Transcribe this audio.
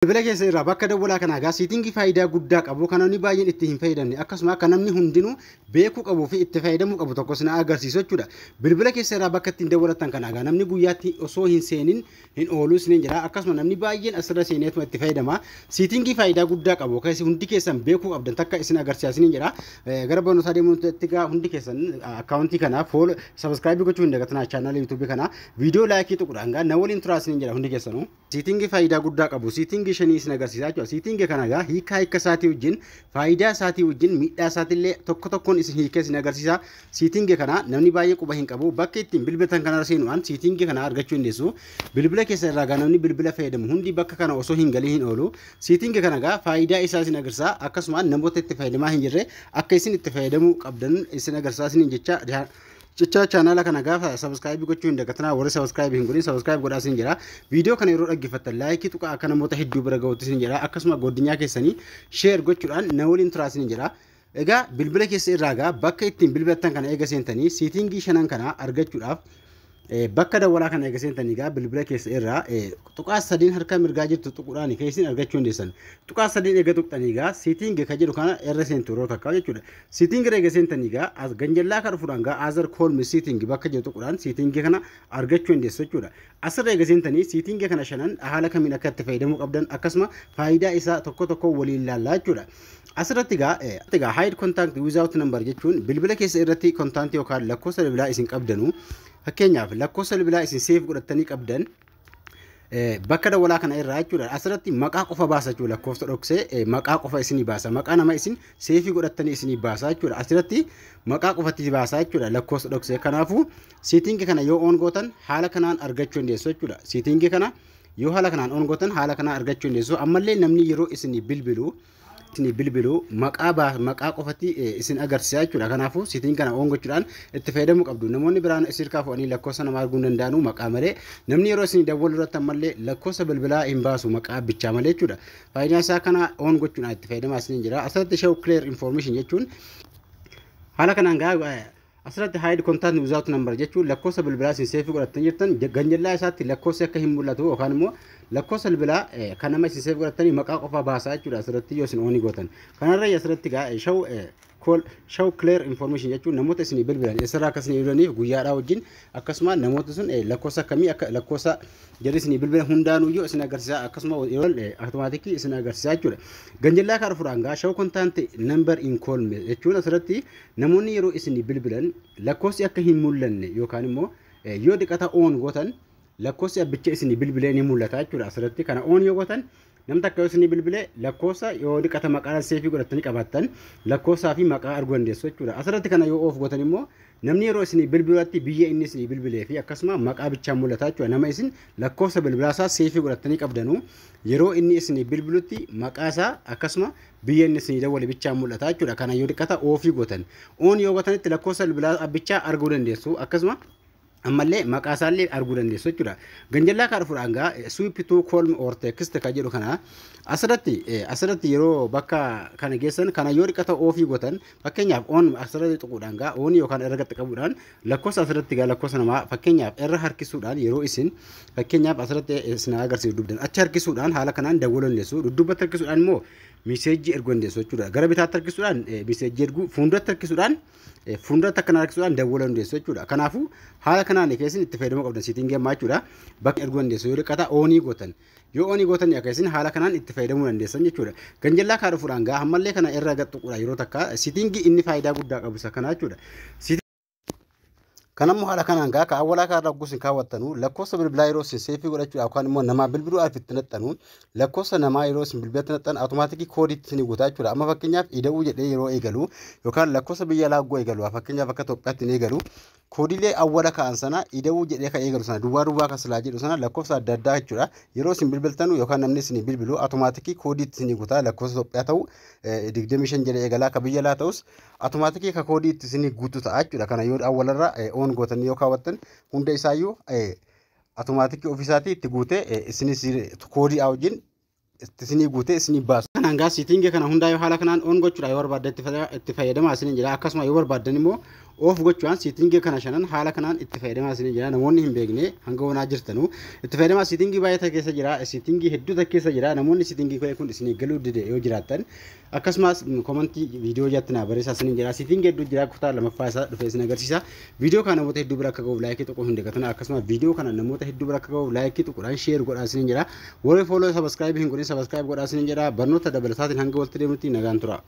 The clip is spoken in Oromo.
Bilbila keessan irraa bakka dawwalaa kanaa egaa siitingii faayidaa guddaa qabu kan namni baay'een itti hin fayyadamne akkasuma akka namni hundinuu beekuu qabuu fi itti fayyadamuu qabu tokko isin agarsiisu jechuudha. Bilbila keessa irraa bakka ittiin dawwalatan kana egaa namni guyyaatti osoo hin seenin hin oolu isiniin jedha akkasuma namni baay'een asirra seeneetuma itti fayyadama. Siitingii faayidaa guddaa qabu keessi hundi keessan beekuu qabdan takka isin agarsiisa isiniin jedha. Gara barnootaa deemuun itti egaa hundi keessan akkaawuntii kana fool sabiskiraayibii gochuu hin dagatinaa chaanaala yuutuubii kana viidiyoo laayikii tuqudhaan egaa na waliin turaa isiniin jedha hundi keessanuu. Siitingi faayidaa guddaa qabu. Siitingi shanii isin agarsiisaa jechuudha. Siitingi kana egaa hiikaa hiika isaatii wajjin, faayidaa isaatii wajjin, miidhaa isaatiillee tokko tokkoon isin hiikee isin agarsiisa. Siitingi kana namni baay'ee quba hin qabu. Bakka ittiin bilbiltan kanarra seenuudhaan siitingi kana argachuu hin deessu. Bilbila keessa irraa egaa namni bilbila fayyadamu hundi bakka kana osoo hin galin hin oolu. Siitingi kana egaa faayidaa isaa isin agarsiisa. Akkasumaan namoota itti fayyadamaa hin jirre akka isin itti fayyadamuu qabdan isin agarsiisaa isiniin jecha Jecha chaanaala kana gaafa sabiskaayibii gochuu hin dagatinaa warri sabiskaayibii hin godhin sabiskaayibii godhaa sin jedha. Viidiyoo kana yeroo dhaggeeffattan laayikii tuqaa akka namoota hedduu bira gahuutti sin jedha. Akkasuma godinyaa keessanii sheer gochuudhaan na waliin turaa sin jedha. Egaa bilbila keessa irraa egaa bakka ittiin bilbilattan kana eega seentanii siitingii shanan kana argachuudhaaf eh, bakka dawwalaa kana eega seentanii egaa bilbila keessa irraa eh, tuqaa sadiin harka mirgaa jirtu tuquudhaan keessin argachuu hin deessan. Tuqaa sadiin eega tuqxanii egaa siitingii kan jedhu kana irra seentu yeroo takka jechuudha. Sitting rega sentani ga as ganjallaa ka dhufudhaan ga other column sitting bakka jiru tuqudhaan sitting kana argachuu dandeessu jechuudha. Asirra eega seentanii sitting kana shanan haala kamiin akka itti fayyadamuu qabdan akkasuma faayidaa isaa tokko tokko waliin laallaa jechuudha. Asirratti gaa gaa hide contact without number jechuun bilbila keessa irratti contact yookaan lakkoofsa bilbilaa isin qabdanu fakkeenyaaf lakkoofsa bilbilaa isin seef godhattanii qabdan bakka dawwalaa kana irraa jechuudha asirratti maqaa qofa baasa jechuudha lakkoofsa dhoksee maqaa qofa isinii baasa maqaa nama isin seefii godhattanii isinii baasa jechuudha asirratti maqaa qofatti baasa jechuudha lakkoofsa dhoksee kanaafuu siitingi kana yoo oon gootan haala kanaan argachuu dandeessu jechuudha siitingi kana yoo haala kanaan oon gootan haala kanaan argachuu dandeessu ammallee namni yeroo isinii bilbilu isinii bilbilu maqaa baa maqaa qofatti eh, isin agarsiisa jechuudha kanaafuu sitiin kana oon gochuudhaan itti fayyadamuu qabdu namoonni biraan isin irkaa fuudhanii lakkoofsa namaa arguu hin danda'anu maqaa malee namni yeroo isin dawwalu irratti ammallee lakkoofsa bilbilaa hin baasu maqaa bichaa malee jechuudha faayidaan isaa kana oon gochuudhaan itti fayyadamaa isiniin jira asirratti show clear information jechuun haala kanaan gaa Asirratti hide contact without number jechuun lakkoofsa bilbilaa isin seefii godhattanii jirtan ganjallaa isaatti lakkoofsi akka hin mul'atu yookaan immoo lakkoofsa bilbilaa kan nama isin seefii godhattanii maqaa qofaa baasaa jechuudha asirratti yoo isin oonii gootan. Kanarra asirratti gaa show call show clear information jechuun namoota isin bilbilan eessarraa akka isin bilbilaniif guyyaadhaa wajjin akkasuma namoota sun lakkoofsa akkamii akka lakkoofsa jarri isin bilbilan hundaanuu yoo isin agarsiisaa akkasuma yeroo automaatikii isin agarsiisaa jechuudha. Ganjallaa kaarfuraan gaa show contact number in call jechuun asirratti Namoonni yeroo isinii bilbilan lakkoofsi akka hin mul'anne yookaan immoo yoo diqata oon gootan lakkoofsi abbicha isinii bilbilee ni mul'ata jechuudha. Asirratti kana oon yoo gootan namni takka yoo isinii bilbile lakkoofsa yoo diqata maqaa seefii godhattanii qabaattan lakkoofsaa fi maqaa arguu dandeessu jechuudha. Asirratti kana yoo oof gootan immoo namni yeroo isinii bilbilatti biyya inni isinii bilbilee fi akkasuma maqaa bichaa mul'ata jechuudha. Nama isin lakkoofsa bilbilaasaa seefii godhattanii qabdanuu yeroo inni isinii bilbilutti maqaasaa akkasuma BN isinii dawwale bichaan mul'ata jechuudha. Kana yoo xiqqata oofii gootan. Oon yoo gootanitti lakkoofsa bilbilaa abbichaa arguu dandeessu. Akkasuma ammallee maqaa isaallee arguu dandeessu jechuudha. Ganjallaa kaa dhufuudhaan gaa sweep to colm or text kan jedhu kana asirratti asirratti yeroo bakka kana geessan kana yoo xiqqata oofii gootan fakkeenyaaf oon asirratti tuquudhaan gaa oon yookaan irra gatti qabuudhaan Lakkoofsa asirratti egaa lakkoofsa namaa fakkeenyaaf irra harkisuudhaan yeroo isin fakkeenyaaf asirratti isin agarsiisu dugdan achi harkisuudhaan haala kanaan dawwaluu dandeessu dudduubatti harkisuudhaan immoo miseejii erguu dandeessu jechuudha gara bitaatti harkisuudhaan miseejii erguu fuulduratti harkisuudhaan fuulduratti akkana harkisuudhaan dawwaluu dandeessu jechuudha kanaafuu haala kanaan keessin itti fayyadamuu qabdan siitiin geemmaa jechuudha bakka erguu dandeessu yoo dhiqata oonii gootan Yoo onii gootanii akka isin haala kanaan itti fayyadamuu dandeessan jechuudha. Ganjallaa kaa dhufuudhaan gaa ammallee kana irra gad tuquudha yeroo takka sitingii inni faayidaa guddaa qabu isa kana jechuudha. Kan ammoo haala kanaan gaa kan awwalaa kaa irra ogguus hin kaawwattanu lakkoofsa bilbilaa yeroo isin seefii godhachuudha yookaan immoo namaa bilbiluu alf itti naxxanu lakkoofsa namaa yeroo isin bilbilatti naxxan automaatikii koodii itti isin guutaa jechuudha. Amma fakkeenyaaf ida'uu jedhee yeroo eegalu yookaan lakkoofsa biyya alaa ogguu eegalu fakkeenyaaf akka Itoophiyaatti hin eegalu koodilee awwala ka'an sana ida'uu jedhee kan eegalu sana duwwaa duwwaa kan silaa jedhu sana lakkoofsa adda addaa jechuudha. Yeroo isin bilbiltanu yookaan namni isin bilbilu atomaatikii koodii itti isinii guutaa lakkoofsa Itoophiyaa ta'u 25 jedhee eegalaa akka biyya laa ta'us atomaatikii akka koodii itti isinii guutu ta'a jechuudha. Kana yoo awwalarra oon gootanii yoo kaawwattan hunda isaayyuu atomaatikii ofiisaatii itti guutee isinis koodii wajjin itti isinii guutee isinii baasu. Kan hangaa siitingii kana hundaa yoo haala kanaan on gochuudhaan yoo barbaaddan itti fayyada- itti fayyadamaa isiniin jedha. Akkasuma yoo barbaaddan immoo off gochuudhaan siitingii kana shanan haala kanaan itti fayyadamaa isiniin jedha. Namoonni hin beekne hanga onaa jirtanu itti fayyadamaa siitingii baay'ee ta'e keessa jira. Siitingii hedduu ta'e keessa jira. Namoonni siitingii ka'e kun isinii galuu dide yoo jiraattan Akkasumas komantii viidiyoo jalatti naa barreessaa isiniin jedha. Siifin geedduu jira kutaa lamaffaa isaa dhufee isin agarsiisa. Viidiyoo kana namoota hedduu bira akka gahuuf laayikii tuquu hin dagatina. Akkasumas viidiyoo kana namoota hedduu bira akka gahuuf laayikii tuquudhaan sheer godhaa isiniin jedha. Warri fooloo sabaskiraayibii hin godhin sabaskiraayib godhaa isiniin jedha. Barnoota dabalataatiin hanga walitti deemnutti nagaan tura.